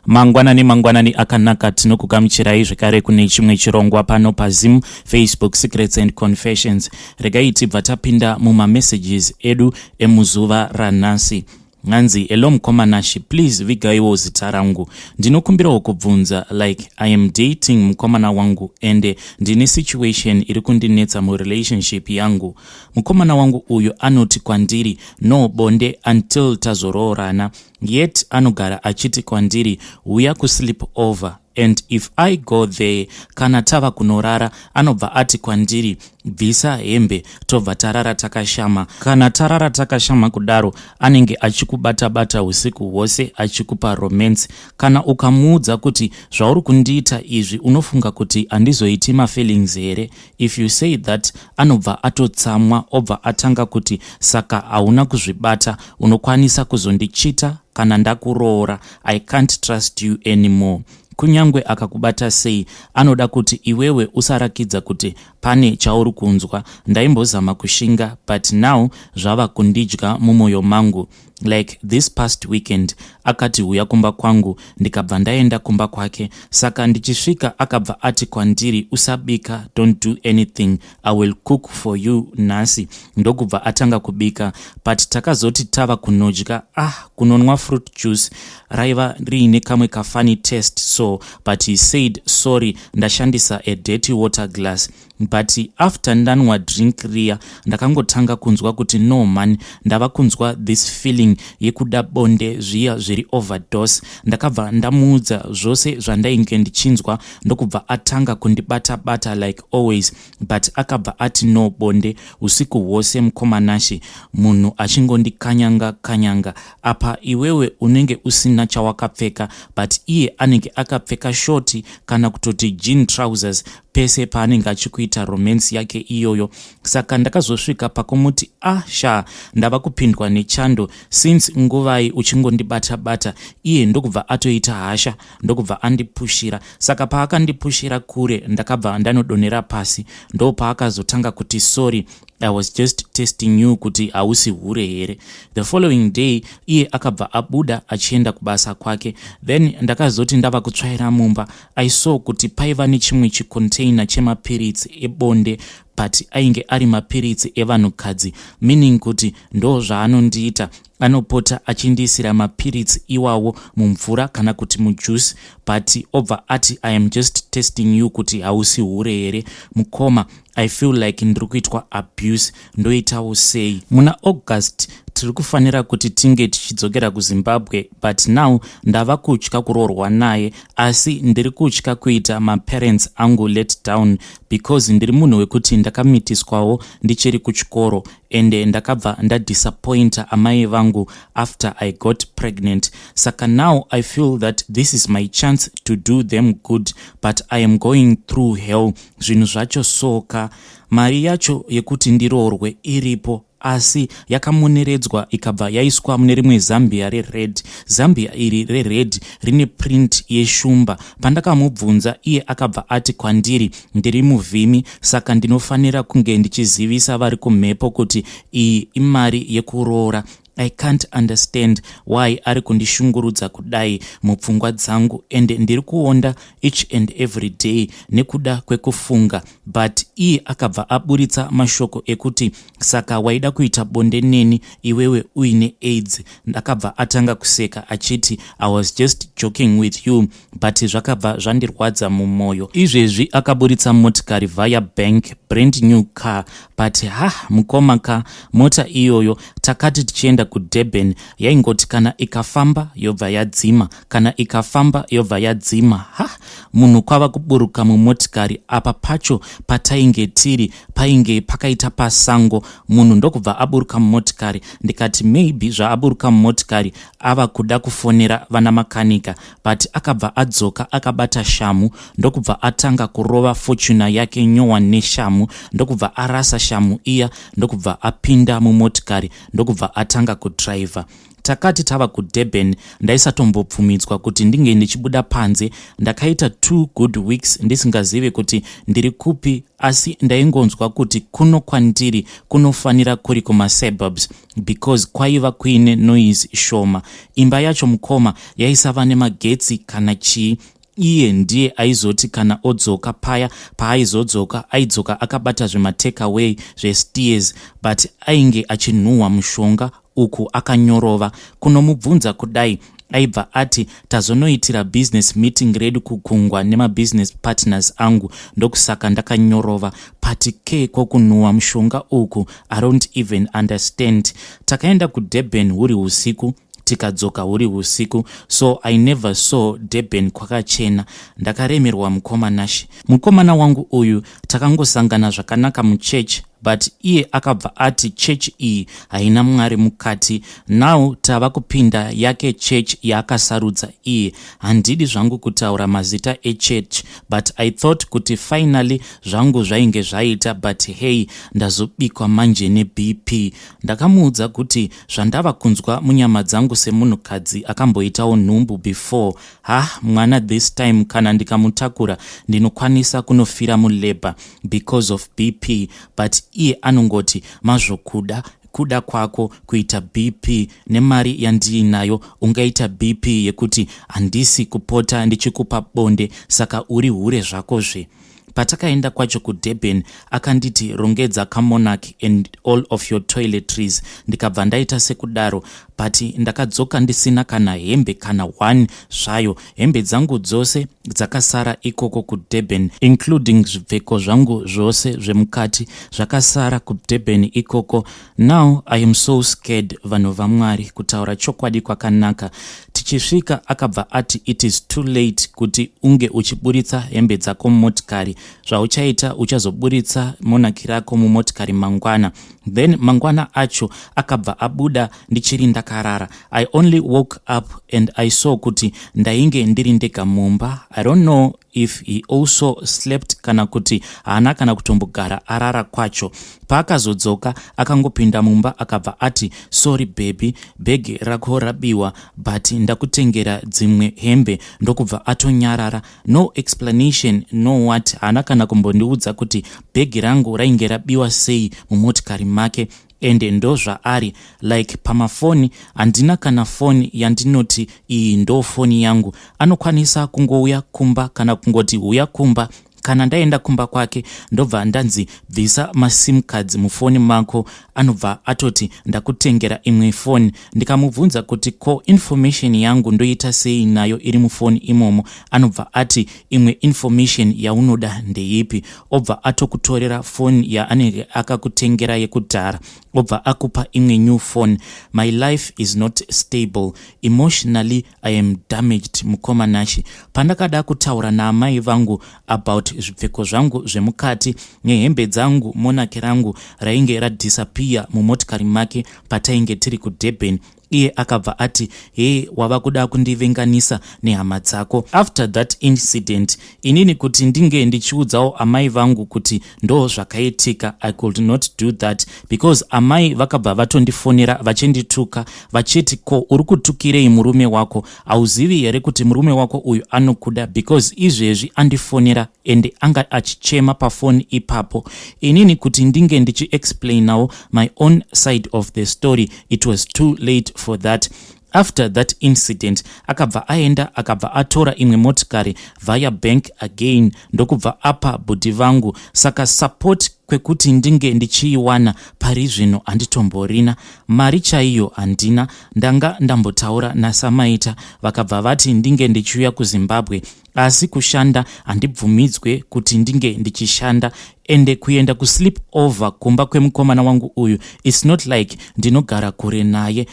Mangwanani mangwanani akanaka tinokukamuchirai zvekare kune chimwe chirongwa pano paZim Facebook Secrets and Confessions. Regai tibva tapinda mumamessages edu emuzuva ranhasi. Nganzi, hello mukomanashi, please vigaiwo zita rangu. Ndinokumbirawo kubvunza like I am dating mukomana wangu ende ndine situation iri kundinetsa murelationship yangu. Mukomana wangu uyu anoti kwandiri no bonde until tazoroorana. yet anogara achiti kwandiri huya kusleep over and if i go there kana tava kunorara anobva ati kwandiri bvisa hembe tobva tarara takashama kana tarara takashama kudaro anenge achikubata-bata usiku hwose achikupa romance kana ukamuudza kuti zvauri kundiita izvi unofunga kuti handizoiti mafeelings here If you say that anobva atotsamwa obva atanga kuti saka hauna kuzvibata unokwanisa kuzondichita kana ndakuroora i can't trust you anymore kunyange akakubata sei anoda kuti iwewe usarakidza kuti pane chauri kunzwa ndaimbozama kushinga but now zvava kundidya mumwoyo mangu like this past weekend akati huya kumba kwangu ndikabva ndaenda kumba kwake saka ndichisvika akabva ati kwandiri usabika don't do anything i will cook for you nhasi ndokubva atanga kubika but takazoti tava kunodya ah kunonwa fruit juice raiva riine kamwe kafani test so but he said sorry ndashandisa a dirty water glass but after ndanwa drink riya ndakangotanga kunzwa kuti no man ndava kunzwa this feeling yekuda bonde zviya zviri overdose ndakabva ndamuudza zvose zvandainge ndichinzwa ndokubva atanga kundibata bata like always but akabva ati no bonde usiku hwose mukomanashi munhu achingondikanyanga kanyanga apa iwewe unenge usina chawakapfeka but iye anenge akapfeka shoti kana kutoti jean trousers pese paanenge achikuita romance yake iyoyo saka ndakazosvika pakumuti ah sha ndava kupindwa nechando since nguvai uchingondibata bata iye ndokubva atoita hasha ndokubva andipushira saka paakandipushira kure ndakabva ndanodonera pasi ndo paakazotanga kuti sorry I was just testing you kuti hausi hure here. The following day iye akabva abuda achienda kubasa kwake. Then ndakazoti ndava kutsvaira mumba I saw kuti paiva nechimwe chicontainer chemapiritsi ebonde but ainge ari mapiritsi evanhukadzi meaning kuti ndo zvaanondiita anopota achindiisira mapiritsi iwawo mumvura kana kuti mujuice but obva ati i am just testing you kuti hausi hure here mukoma i feel like ndiri kuitwa abuse ndoitawo sei muna august tiri kufanira kuti tinge tichidzokera kuzimbabwe but now ndava kutya kuroorwa naye asi ndiri kutya kuita maparents angu let down because ndiri munhu wekuti ndakamitiswawo ndichiri kuchikoro ende ndakabva ndadisappointa amai vangu after i got pregnant saka now i feel that this is my chance to do them good but i am going through hell zvinhu zvacho soka mari yacho yekuti ndiroorwe iripo asi yakamoneredzwa ikabva yaiswa mune rimwe zambia rered zambia iri rered rine print yeshumba pandakamubvunza iye akabva ati kwandiri ndiri muvhimi saka ndinofanira kunge ndichizivisa vari kumhepo kuti iyi imari yekuroora I can't understand why ari kundishungurudza kudai mupfungwa dzangu and ndiri kuonda each and every day nekuda kwekufunga but iye akabva aburitsa mashoko ekuti saka waida kuita bonde neni iwewe uine aids ndakabva atanga kuseka achiti i was just joking with you but zvakabva zvandirwadza mumoyo izvezvi akaburitsa motikari via bank brand new car but ha mukoma ka mota iyoyo takati tichienda kudurban yaingoti kana ikafamba yobva yadzima kana ikafamba yobva yadzima ha munhu kwava kuburuka mumotikari apa pacho patainge tiri painge pakaita pasango munhu ndokubva aburuka mumotikari ndikati maybe zvaaburuka mumotikari ava kuda kufonera vana makanika but akabva adzoka akabata shamu ndokubva atanga kurova fortuna yake nyowa neshamu ndokubva arasa shamu iya ndokubva apinda mumotikari ndokubva atanga kudriver takati tava kudurban ndaisatombobvumidzwa kuti ndinge ndichibuda panze ndakaita two good weeks ndisingazive kuti ndiri kupi asi ndaingonzwa kuti kuno kwandiri kunofanira kuri kumasuburbs because kwaiva kuine noise shoma. Imba yacho mukoma yaisava nemagetsi kana chii iye ndiye aizoti kana odzoka paya paaizodzoka aidzoka akabata zvematakeaway zvesteers but ainge achinhuhwa mushonga uku akanyorova kunomubvunza kudai aibva ati tazonoitira business meeting redu kugungwa nemabusiness partners angu ndokusaka ndakanyorova pati ke kokunhuwa mushonga uku i don't even understand takaenda kudurban huri usiku tikadzoka huri usiku so i never saw durban kwakachena ndakaremerwa mukoma nashe mukomana wangu uyu takangosangana zvakanaka muchurch but iye akabva ati church iyi haina mwari mukati now tava kupinda yake church yaakasarudza iye handidi zvangu kutaura mazita echurch but i thought kuti finally zvangu zvainge zvaita but hey ndazobikwa manje nebp ndakamuudza kuti zvandava kunzwa munyama dzangu semunhukadzi akamboitawo nhumbu before Hah mwana this time kana ndikamutakura ndinokwanisa kunofira mulabour because of BP but iye anongoti mazvokuda kuda kwako kuita BP nemari yandiinayo ungaita BP yekuti handisi kupota ndichikupa bonde saka uri hure zvako zve Patakaenda kwacho kuDurban akanditi rongedza kamonarch and all of your toiletries ndikabva ndaita sekudaro but ndakadzoka ndisina kana hembe kana one zvayo hembe dzangu dzose dzakasara ikoko kudurban including zvipfeko zvangu zvose zvemukati zvakasara kudurban ikoko Now I am so scared vanhu vaMwari kutaura chokwadi kwakanaka tichisvika akabva ati it is too late kuti unge uchiburitsa hembe dzako mumotikari zvauchaita uchazoburitsa monaki rako mumotikari mangwana then mangwana acho akabva abuda ndichiri ndakarara i only woke up and i saw kuti ndainge ndiri ndega mumba i don't know if he also slept kana kuti haana kana kutombogara arara kwacho paakazodzoka akangopinda mumba akabva ati sorry bebi bhegi rako rabiwa but ndakutengera dzimwe hembe ndokubva atonyarara no explanation no what haana kana kumbondiudza kuti bhegi rangu rainge rabiwa sei mumotikari make ende ndozvaari like pamafoni handina kana foni yandinoti iyi ndo foni yangu anokwanisa kungouya kumba kana kungoti huya kumba kana ndaenda kumba kwake ndobva ndanzi bvisa masim cards mufoni mako anobva atoti ndakutengera imwe foni ndikamubvunza kuti ko information yangu ndoita sei nayo iri mufoni imomo anobva ati imwe information yaunoda ndeipi obva atokutorera foni yaanenge akakutengera yekudhara obva akupa imwe new phone my life is not stable emotionally i am damaged mukoma nashe pandakada kutaura naamai vangu about zvipfeko zvangu zvemukati nehembe dzangu monake rangu rainge radhisapiya mumotikari make patainge tiri kudurban iye akabva ati hee wava kuda kundivenganisa nehama dzako after that incident inini kuti ndinge ndichiudzawo amai vangu kuti ndoo zvakaitika i could not do that because amai vakabva vatondifonera vachindituka vachiti ko uri kutukirei murume wako hauzivi here kuti murume wako uyu anokuda because izvezvi andifonera and anga achichema pafoni ipapo inini kuti ndinge ndichiexplainawo my own side of the story it was too late for that after that incident akabva aenda akabva atora imwe motikari via bank again ndokubva apa bhudhi vangu saka support kwekuti ndinge ndichiiwana pari zvino handitomborina mari chaiyo handina ndanga ndambotaura nasamaita vakabva vati ndinge ndichiuya kuzimbabwe asi kushanda handibvumidzwe kuti ndinge ndichishanda ende kuenda kusleep over kumba kwemukomana wangu uyu its not like ndinogara kure naye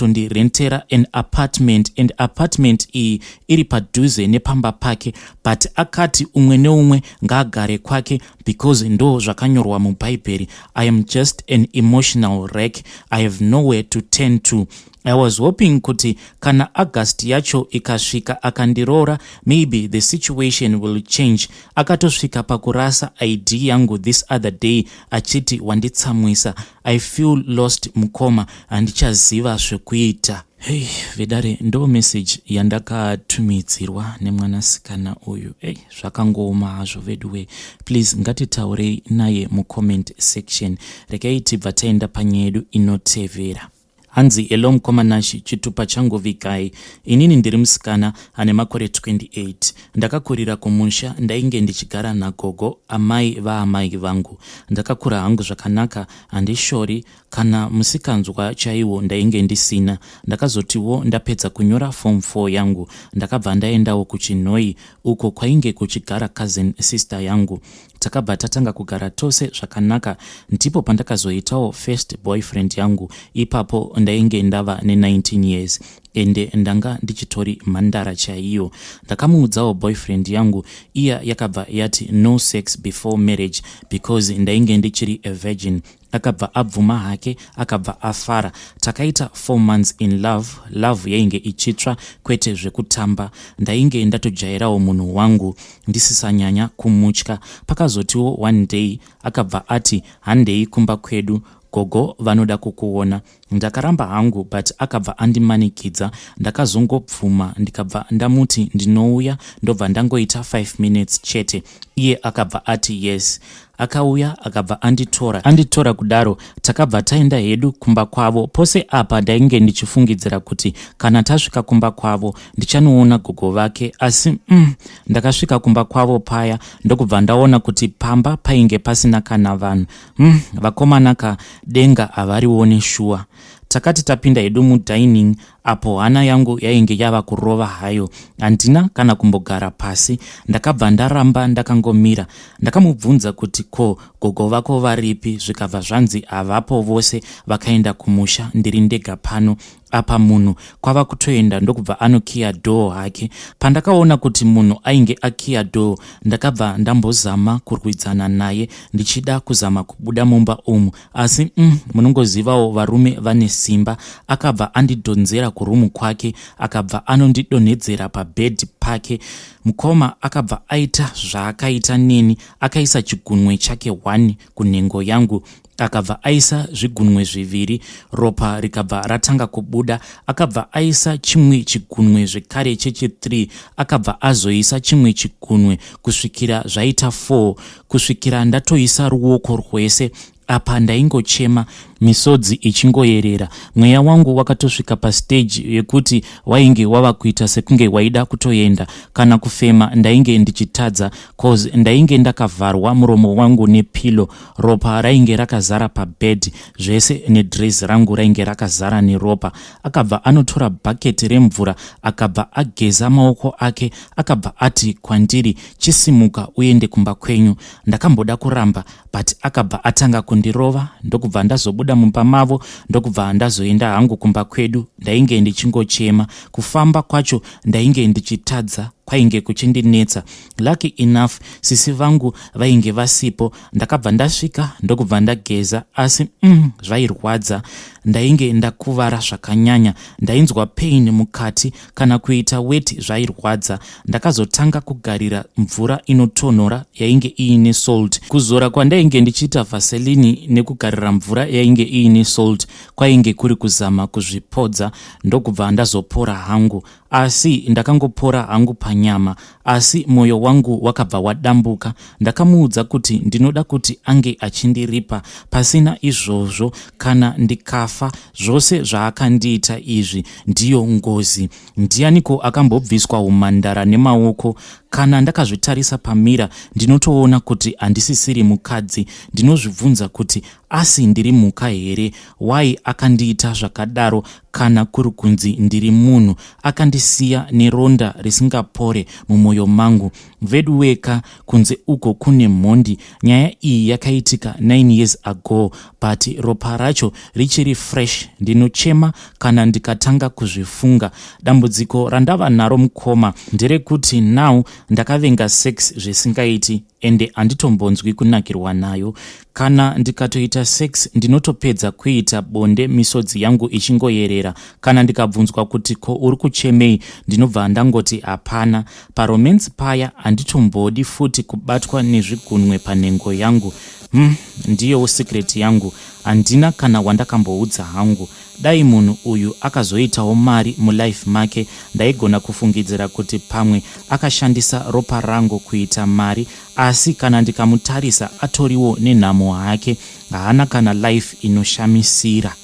anotondirentera an apartment and apartment iyi iri padhuze nepamba pake but akati umwe neumwe ngaagare kwake because ndo zvakanyorwa mubhaibheri i am just an emotional rack i have nowhere to turn to I was hoping kuti kana August yacho ikasvika akandiroora maybe the situation will change. Akatosvika pakurasa ID yangu this other day achiti wanditsamwisa. I feel lost mukoma handichaziva zvekuita. Hey, vedare ndo message yandakatumidzirwa nemwanasikana uyu. Hey, zvakangooma hazvo veduwe. Please ngatitaurei naye mucomment section. Regai tibva taenda panyedu inotevera. Hanzi hello mkoma Nashy chitupa changu vikai. Inini ndiri musikana ane makore 28. Ndakakurira kumusha ndainge ndichigara nagogo amai vaamai vangu. Ndakakura hangu zvakanaka handishori kana musikanzwa chaiwo ndainge ndisina. Ndakazotiwo ndapedza kunyora form 4 yangu ndakabva ndaendawo kuChinhoyi uko kwainge kuchigara cousin sister yangu. takabva tatanga kugara tose zvakanaka ndipo pandakazoitawo first boyfriend yangu ipapo ndainge ndava ne19 years ende ndanga ndichitori mhandara chaiyo ndakamuudzawo boyfriend yangu iya yakabva yati no sex before marriage because ndainge ndichiri a virgin akabva abvuma hake akabva afara takaita four months in love love yainge ichitsva kwete zvekutamba ndainge ndatojairawo munhu wangu ndisisanyanya kumutya pakazotiwo one day akabva ati handei kumba kwedu gogo vanoda kukuona Ndakaramba hangu but akabva andimanikidza ndakazongobvuma ndikabva ndamuti ndinouya ndobva ndangoita 5 minutes chete iye akabva ati yes akauya akabva anditora anditora kudaro takabva taenda hedu kumba kwavo pose apa ndainge ndichifungidzira kuti kana tasvika kumba kwavo ndichanoona gogo vake asi mm, ndakasvika kumba kwavo paya ndokubva ndaona kuti pamba painge pasina kana vanhu Hmm, vakomana ka denga havarione shuwa takati tapinda hedu mudining apo hana yangu yainge yava kurova hayo handina kana kumbogara pasi ndakabva ndaramba ndakangomira ndakamubvunza kuti ko gogo vako varipi zvikabva zvanzi havapo vose vakaenda kumusha ndiri ndega pano apa munhu kwava kutoenda ndokubva anokiya dhoo hake pandakaona kuti munhu ainge akiya dhoo ndakabva ndambozama kurwidzana naye ndichida kuzama kubuda mumba umu asi mm, munongozivawo varume vane simba akabva andidhonzera kurumu kwake akabva anondidonhedzera pabhedhi pake mukoma akabva aita zvaakaita neni akaisa chigunwe chake one kunhengo yangu akabva aisa zvigunwe zviviri ropa rikabva ratanga kubuda akabva aisa chimwe chigunwe zvekare chechi3 akabva azoisa chimwe chigunwe kusvikira zvaita 4 kusvikira ndatoisa ruoko rwese apa ndaingochema misodzi ichingoyerera mweya wangu wakatosvika pasteji yekuti wainge wava kuita sekunge waida kutoenda kana kufema ndainge ndichitadza cause ndainge ndakavharwa muromo wangu nepilo ropa rainge rakazara pabed zvese nedres rangu rainge rakazara neropa akabva anotora bhaketi remvura akabva ageza maoko ake akabva ati kwandiri chisimuka uende kumba kwenyu ndakamboda kuramba but akabva atanga kundirova ndokubva ndazobuda mumba mavo ndokubva ndazoenda hangu kumba kwedu ndainge ndichingochema kufamba kwacho ndainge ndichitadza kwainge kuchindinetsa Lucky enough sisi vangu vainge vasipo ndakabva ndasvika ndokubva ndageza asi mm, zvairwadza ndainge ndakuvara zvakanyanya ndainzwa pain mukati kana kuita weti zvairwadza ndakazotanga kugarira mvura inotonhora yainge iine salt kuzora kwandainge ndichiita vaselini nekugarira mvura yainge iine salt kwainge kuri kuzama kuzvipodza ndokubva ndazopora hangu asi ndakangopora hangu panyama asi mwoyo wangu wakabva wadambuka ndakamuudza kuti ndinoda kuti ange achindiripa pasina izvozvo kana ndikafa zvose zvaakandiita izvi ndiyo ngozi ndiyaniko akambobviswa umhandara nemaoko kana ndakazvitarisa pamira ndinotoona kuti handisisiri mukadzi ndinozvibvunza kuti Asi ndiri mhuka here? Why akandiita zvakadaro kana kuri kunzi ndiri munhu? Akandisiya neronda risingapore mumoyo mangu. Veduweka kunze uko kune mhondi. Nyaya iyi yakaitika 9 years ago but ropa racho richiri fresh. Ndinochema kana ndikatanga kuzvifunga. Dambudziko randava naro mukoma nderekuti now ndakavenga sex zvisingaiti. ende handitombonzwi kunakirwa nayo. Kana ndikatoita sex ndinotopedza kuita bonde misodzi yangu ichingoyerera. Kana ndikabvunzwa kuti ko uri kuchemei ndinobva ndangoti hapana. Paromance paya handitombodi futi kubatwa nezvigunwe panhengo yangu. Umm ndiyowo secret yangu handina kana wandakamboudza hangu. Dai munhu uyu akazoitawo mari mulife make ndaigona kufungidzira kuti pamwe akashandisa ropa rangu kuita mari asi kana ndikamutarisa atoriwo nenhamo hake haana kana life inoshamisira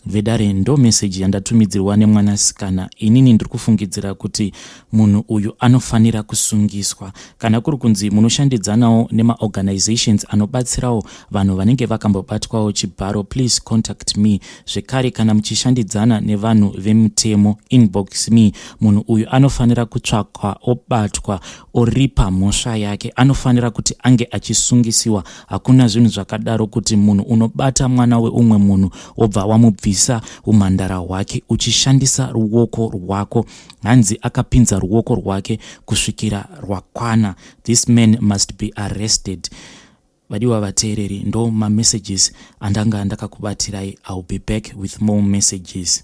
vedare ndo meseji yandatumidzirwa nemwanasikana inini ndiri kufungidzira kuti munhu uyu anofanira kusungiswa. Kana kuri kunzi munoshandidzanawo nemaorganizations anobatsirawo vanhu vanenge vakambobatwawo chibharo, please contact me. Zvekare kana muchishandidzana nevanhu vemutemo, inbox me. Munhu uyu anofanira kutsvakwa obatwa oripa mhosva yake. Anofanira kuti ange achisungisiwa. Hakuna zvinhu zvakadaro kuti munhu unobata mwana weumwe munhu wobva wamubvisa umhandara hwake uchishandisa ruoko rwako. hanzi akapinza ruoko rwake kusvikira rwakwana this man must be arrested vadiwa vateereri ndo mamessages andanga ndakakubatirai ill be back with more messages